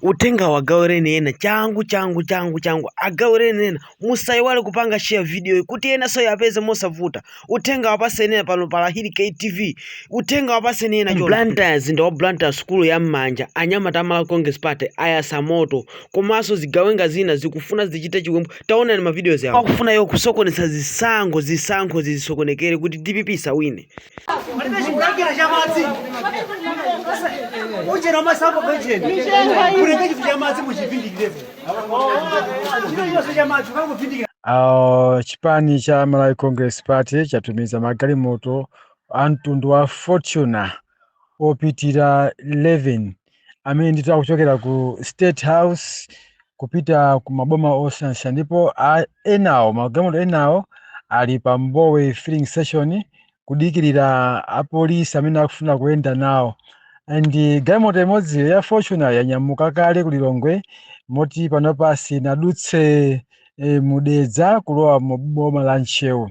Uthengawu agawireni ena changu changu changu changu, agawireni ena. Musaiwale kupanga share videoyi kuti enanso yapeze mosavuta. Uthengawu apaseni ena pano pa Lahiri KTV. Uthengawu apaseni ena chonde. Blantyre mzinda wa Blantyre sukulu ya m'manja anyamata a Malawi Congress Party ayasa moto komanso zigawenga zina zikufuna zichite chiwembu taonani ma videos awo akufuna iwo kusokoneza zisankho zisankho zisokonekere kuti dpp isawine palibe chikulangira cha madzi uchera masambo pacheni kulenge chifu cha madzi muchipindikirepo chimene chonse cha madzi ukangopindikira Uh, chipani cha Malawi Congress Party chatumiza magalimoto a mtundu wa Fortuner opitira 11 amene ndithu akuchokera ku state house kupita ku maboma osiyanasiyana ndipo a- enawo magalimoto enawo ali pa mbowe filling station kudikirira apolisi amene akufuna kuyenda nawo and galimoto imodzi ya fortuner yanyamuka kale ku lilongwe moti panopa sinadutse e, mu Dedza kulowa mu boma la Ntcheu.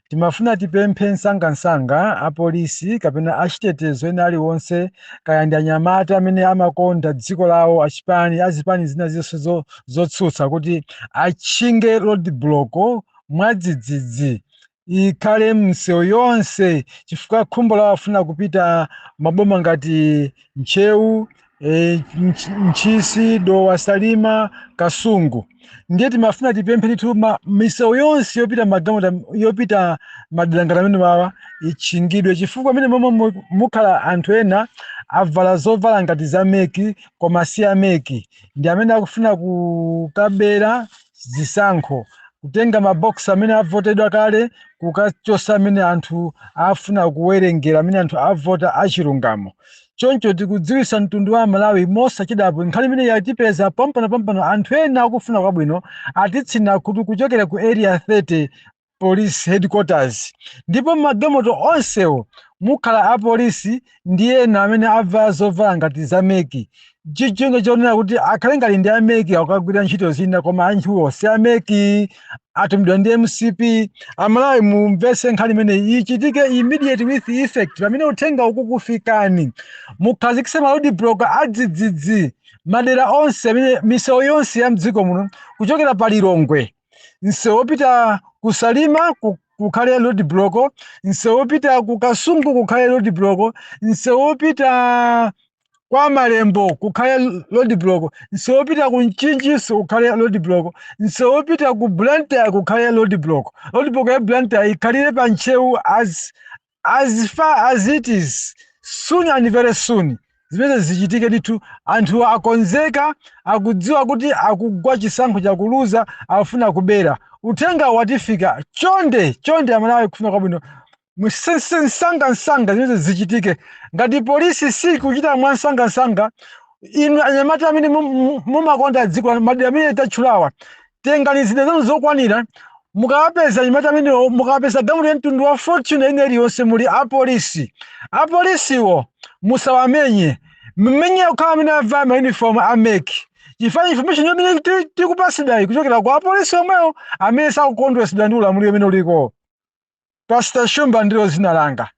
Timafuna tipemphe msangamsanga apolisi kapena achitetezo ena aliwonse kaya ndi anyamata amene amakonda dziko lawo achipani azipani zina zonse zo- zotsutsa kuti atchinge roadblock mwadzidzidzi ikhale m'misewu yonse chifukwa khumbo lawo afuna kupita maboma ngati Ntcheu, e, Ntch- Ntchisi, Dowa, Salima, Kasungu. Ndiye timafuna tipemphe ndithu ma- misewu yonse yopita magalimoto yopita madera ngati amenewawa itchingidwe chifukwa amene momwe mu- mukhala anthu ena avala zovala ngati za meki koma si ameki ndi amene akufuna kukabera zisankho, kutenga ma box amene avotedwa kale kukachosa amene anthu afuna kuwerengera amene anthu avota achilungamo. Choncho tikudziwisa mtundu wa aMalawi mosachedwapa nkhani imene yatipeza pompano pompano anthu ena akufuna kwabwino atitsina khutu kuchokera ku Area 30 police headquarters ndipo magalimoto onsewo mukhala apolisi ndi ena amene avala zovala ngati za mec cholinga chonena kuti akhale ngati ndi a mec akukagwira ntchito zina koma anthuwo si a mec atumidwa ndi mcp amalawi mumvese nkhani imeneyi ichitike immediate with effect pamene uthenga ukukufikani mukhazikise ma road block adzidzidzi madera onse amene misewu yonse ya mdziko muno kuchokera pa lilongwe msewu wopita ku salima ku- kukhale road block msewu wopita ku kasungu kukhale road block msewu wopita kwa malembo kukhale road block msewu wopita ku mchinji kukhale road block msewu wopita ku blantyre kukhale road block road block ya blantyre ikhalire pa ntcheu as as far as it is soon and very soon zimene zichitike ndithu anthu akonzeka akudziwa kuti akugwa chisankho chakuluza afuna kubera uthenga watifika chonde chonde amalawi kufuna kwabwino msangansanga zimene zichitike ngati polisi sikuchita mwa msangansanga inu anyamata amene mum- mum- mumakonda dziko madera amene tatchulawa tengani zida zanu zokwanira mukawapeza anyamata amenewo mukapeza galimoto ya mtundu wa fortuner ina iliyonse muli apolisi apolisiwo musawamenye mumenye okhawo amene avala mauniform a MEC chifukwa information yomwe ti- tikupatsidwayi kuchokera kwa apolisi omwewo amene sakukondweretsedwa ndi ulamuliro umene uliko pastor shumba ndilo dzina langa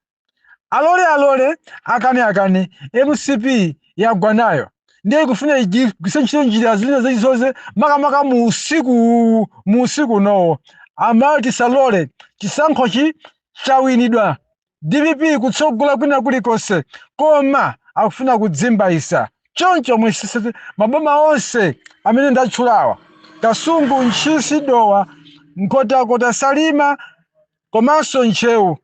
alole alole akane akane mcp yagwa nayo ndiye ikufuna igwiritse ntchito njira zina zilizonse makamaka mu usiku uwu, mu usiku unowo amalawi tisalole chisankhochi chawinidwa dpp kutsogola kwina kulikonse koma akufuna kuzimbaitsa choncho muyesetse maboma onse amene ndatchulawa kasungu ntchisi dowa nkhotakota salima komanso ntcheu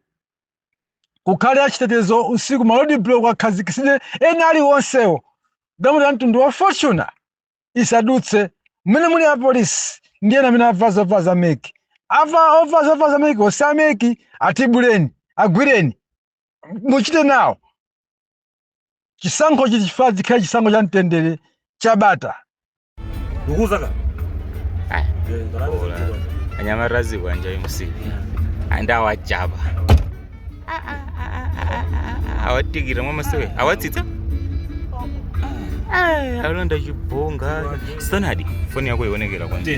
kukhale achitetezo usiku ma roadblock akhazikitsidwe ena aliwonsewo galimoto ya mtundu wa fortuner isadutse mmene muli apolisi ndi ena amene avala zovala za MEC avala ovala zovala za MEC onse a MEC atibuleni agwireni muchite nawo chisankho chili chifaa chikhale chisankho cha mtendere cha bata ndikuuzaka Aya, bola. anyamata azikwanje mcp and awajaba awatikira mwamasewera awatsitsa alonda chibhonga sanadi foni yako ionekera kwanje